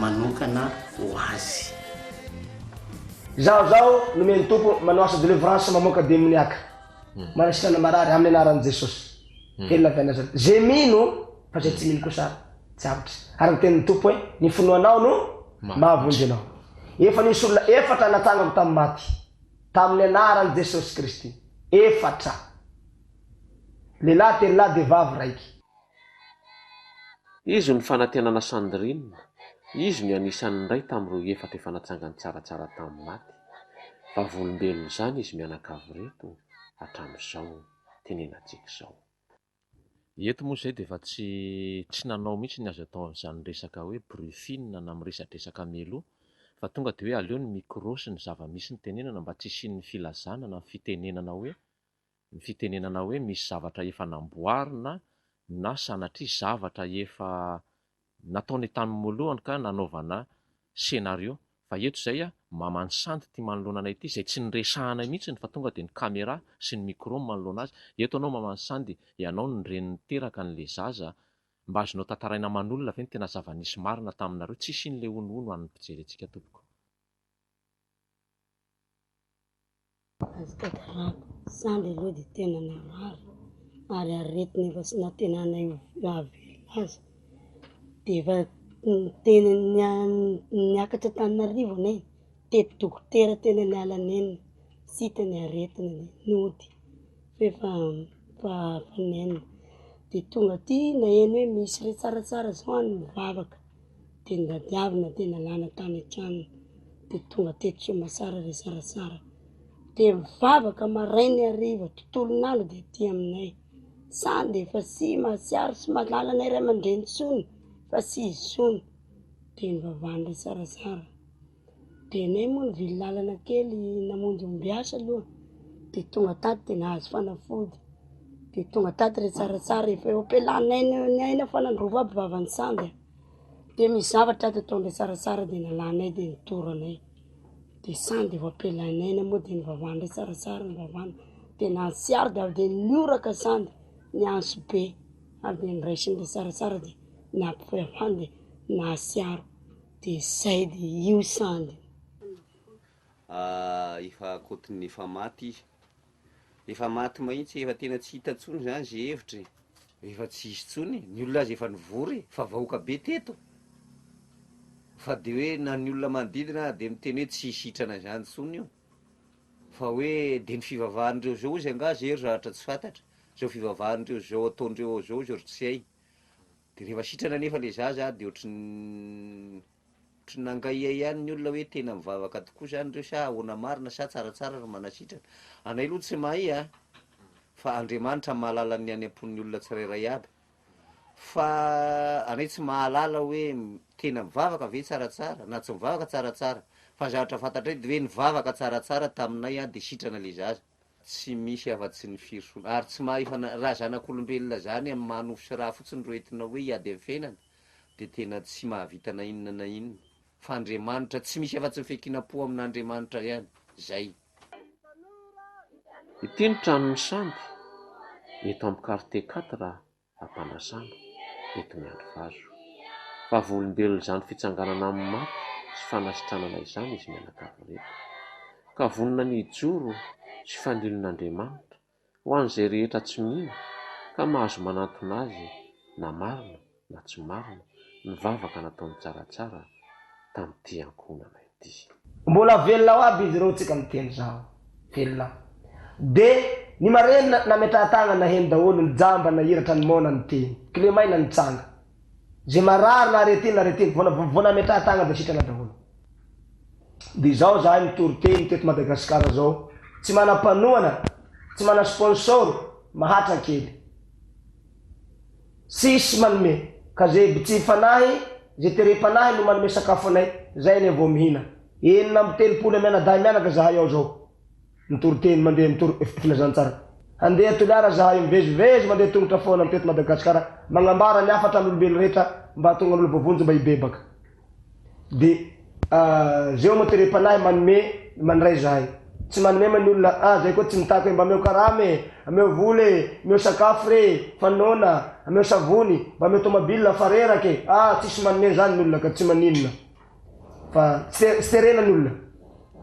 manokana ho azy. Izaho zao nomen'ny Tompo manao asa delivrance mamoaka demoniaka, manasitrana marary amin'ny anaran'i Jesosy. Velona avy any azany ze mino fa ze tsy mino kosa tsy avotry. Ary ny tenin'ny Tompo hoe ny finoanao no mahavonjy anao. Efa nisy olona efatra natsangako tamin'ny maty tamin'ny anaran'i Jesosy Kristy. Efatra. Lehilahy telo lahy dia vavy raiky. Izy no fanantenana Sandrine, izy no anisan'ny iray tamin'ireo efatra efa natsangany tsaratsara tamin'ny maty. Vavolombelona izany izy mianakavy ireto hatramin'izao, tenenantsika izao. Eto moa izay dia efa tsy tsy nanao mihitsy ny azo atao amin'izany resaka hoe briefing na miresadresaka mialoha fa tonga dia hoe aleo ny micro sy ny zava-misy notenenana mba tsy hisian'ny filazana na fitenenana hoe Ny fitenenana hoe misy zavatra efa namboarina na sanatria zavatra efa nataony tamin'ny moalohany ka nanaovana scenario fa eto izay a maman'i sandy ity manoloana anay ity izay tsy niresahanay mihitsiny fa tonga dia ny camera sy ny micro manoloana azy eto anao maman'i sandy ianao no reny niteraka an'le zaza mba azonao tantaraina aman'olona ve ny tena zava-nisy marina taminareo tsisy iny le honohono an'ny mpijery antsika tompoko. Azo tantarako, sambo aloha dia tena marary ary aretina efa tsy nampihenana eo nahavelona azy, dia efa tena niakatra Antananarivo anie, tety dokotera tena niala nenina, tsy hita ny aretina, nody f'efa nenina, dia tonga aty naheno hoe misy hoe tsaratsara zao any ny vavaka. Teny Radiavina dia nalana tany an-tranony dia tonga teto Soamasara ry Sarasara dia mivavaka maraina hariva tontolon'andro dia aty aminay, sa dia efa sy mahatsiaro sy mahalala anay ray aman-dreny intsony fa tsy izy intsony, dia nivavahan-dry Sarasara. Dia anay moa nivily lalana kely namonjy ombiasa aloha dia tonga tato dia nahazo fanafody dia tonga tato re tsaratsara rehefa eo am-pialanay ny aina fa nandrovo aby vavan'ny sambo e, dia misy zavatra ato ataondreo tsaratsara dia nalanay dia nitory anay, dia sahy dia voam-pialanay aina moa dia nivavahandreo tsaratsara nivavahana dia nahatsiaro dia avy dia nioraka sahy ny ansobe avy dia niraisin'ireo tsaratsara dia nahatsiaro. Dia zay dia io sandry. Ah efa akoatiny efa maty izy. Efa maty mahitsy efa tena tsy hita tsony zany ze hevitra e. Efa tsisy tsony e, ny olona aza efa nivory e, fa vahoaka be teto. Fa de hoe na ny olona manodidina aza de miteny hoe tsy hisitrana zany tsony io. Fa hoe de ny fivavahan'ireo zao ozy angaha ze ry zahatra tsy fantatra. Zao fivavahan'ireo zao ataondreo ao zao ozy ry tsy hay. De rehefa sitrana nefa le zaza de ohatry ny ohatry ny nangahia ihany ny olona hoe tena mivavaka tokoa zany reo sa ahoana marina sa tsaratsara ry manasitrana? Anay loha tsy mahay a! fa Andriamanitra mahalala ny any am-pon'ny olona tsirairay aby fa anay tsy mahalala hoe tena mivavaka ve tsaratsara na tsy mivavaka tsaratsara fa zavatra fantatray de hoe nivavaka tsaratsara taminay a de sitrana le zaza. Tsy misy afa-tsy ny firosoana. Ary tsy maha efa na, raha zanak'olombelona zany amin'ny maha nofo sy ra fotsiny ro entina hoe hiady amin'ny fiainana, dia tena tsy mahavita na inona na inona. Fa Andriamanitra, tsy misy afa-tsy ny fiankinam-po amin'Andriamanitra ihany. Zay. Ity ny tranon'ny sambo, eto amin'ny quartier quatre a. fampanasana eto Miandrivazo. Vavolombelona izany fitsanganana amin'ny maty sy fanasitranana izany izy mianakavy ireto, ka vonona ny hijoro sy fanilina Andriamanitra ho an'izay rehetra tsy mino ka mahazo manantona azy na marina na tsy marina ny vavaka nataony tsaratsara tamin'ity ankohonana ity. Dy. Mbola velona ao aby izy ireo tsika miteny zao. Velona. De ny marenina nametrahatagna naheno daholo ny jamba nahiratra ny mona ny teny. Kle maina nitsanga. Ze marary na arrêté na arrêté vona vao nametrahatagna de sitrana daholo. De zao zahay mitoriteny teto Madagascar zao tsy mana panohana tsy mana sponsor mahatran kely. Tsisy manome. Ka ze btsy fanahy, ze terem-panahy no manome sakafo anay, zay anie vao mihina. Enina amby telopolo amy anadahy mianaka zahay ao zao. Mitory teny mandeha mitory fpfilazantsara. Handeha Toliara zahay mivezivezy mandeha tongotra foana mteto Madagasikara magnambara ny hafatra an'olombelo rehetra mba hahatonga an'olona voavonjy mba hibebaka. Dia Zay Omaterem-panahy manome, mandray zahay. Tsy manome ma ny olona, ah zay koa tsy mitaky hoe mba ameo karama e, ameo vola e, ameo sakafo re e, fa noana, ameo savony, mba ameo tomobilina fa reraka e, ah tsisy manome zany ny olona ka tsy maninona fa tsy terena ny olona.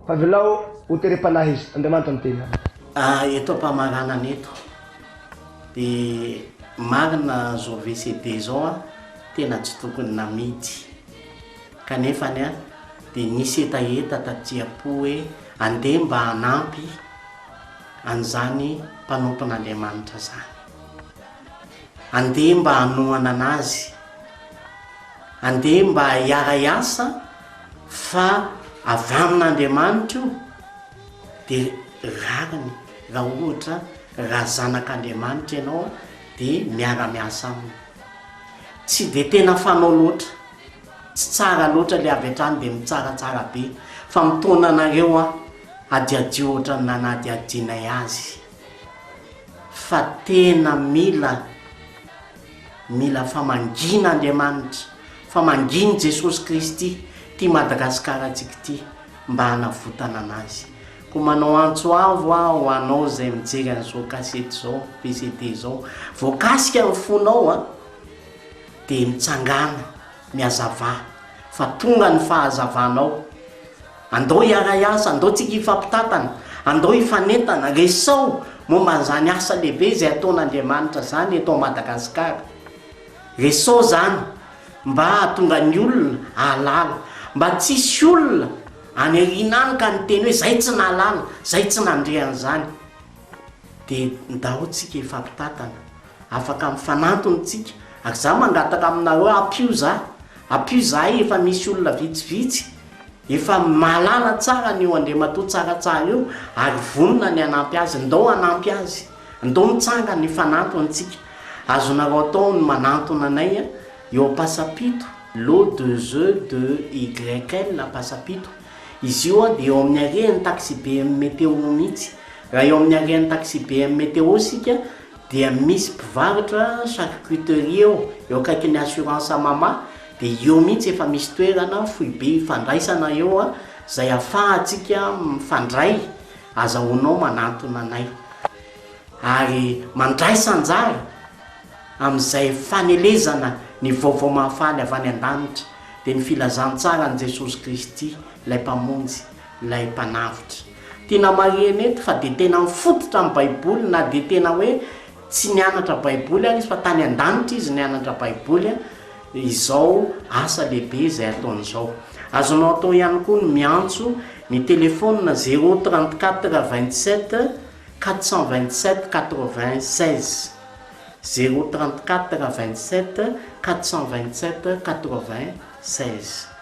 Avelao ho terem-panahy izy. Andriamanitra miteny aminy. Ary eto am-pamaranana eto dia marina izao VCD izao an, tena tsy tokony namidy. Kanefany an, dia nisy hetaheta taty am-po hoe andeha mba hanampy an'izany mpanompon'Andriamanitra izany. Andeha mba hanohana an'azy. Andeha mba hiara-hiasa fa avy amin'Andriamanitra io dia rariny raha ohatra raha zanak'Andriamanitra ianao dia miara-miasa aminy. Tsy dia tena fanao loatra, tsy tsara loatra ilay avy hatrany dia mitsaratsara be fa mitaona anareo aho hadihadio ohatra ny nanadihadianay azy fa tena mila Mila famangiana Andriamanitra, famangian'i Jesosy Kristy ity Madagasikarantsika ity mba hanavotana anazy. Koa manao antso avo aho ho anao izay mijery an'izao kasety izao, VCD izao, voakasika ny fonao an, dia mitsangàna. Miazava fa tonga ny fahazavanao. Andao hiaray asa, andao tsika hifampitantana, andao hifanentana, resao momba an'izany asa lehibe izay ataon'Andriamanitra izany eto Madagasikara. Resao izany mba hahatonga ny olona hahalala, mba tsy hisy olona any aoriana any ka niteny hoe izay tsy nahalala, izay tsy nandre an'izany. Dia ndao tsika hifampitantana. Afaka mifanantona tsika. Ary za mangataka aminareo ampio za. Ampio zahay efa misy olona vitsivitsy efa mahalala tsara an'io Andriamatoa Tsaratsara io ary vonona ny hanampy azy. Ndao hanampy azy. Ndao mitsangana hifanantona tsika. Azonareo atao ny manantona anay eo Ampasapito, lot deux e deux YL Ampasapito. Izy io dia eo amin'ny harehan'ny taxibe Meteo mitsy. Raha eo amin'ny harehan'ny taxibe Meteo sika, dia misy mpivarotra charcuterie eo eo akaikin'ny assurance mama dia eo mihitsy efa misy toerana foibe ifandraisana eo a izay afahantsika mifandray azahoanao manantona anay ary mandraisa anjara amin'izay fanelezana ny vaovao mahafaly avy any an-danitra dia ny filazantsaran'i Jesosy Kristy ilay mpamonjy Ilay Mpanavotra. Tena marihina eto fa dia tena mifototra amin'ny Baiboly na dia tena hoe tsy nianatra Baiboly ary izy fa tany an-danitra izy nianatra Baiboly izao asa lehibe izay ataony izao. Azonao atao ihany koa ny miantso ny telefaonina zéro trente quatre vingt sept quatre cent vingt sept quatre vingt seize, zéro trente quatre vingt sept quatre cent vingt sept quatre vingt seize.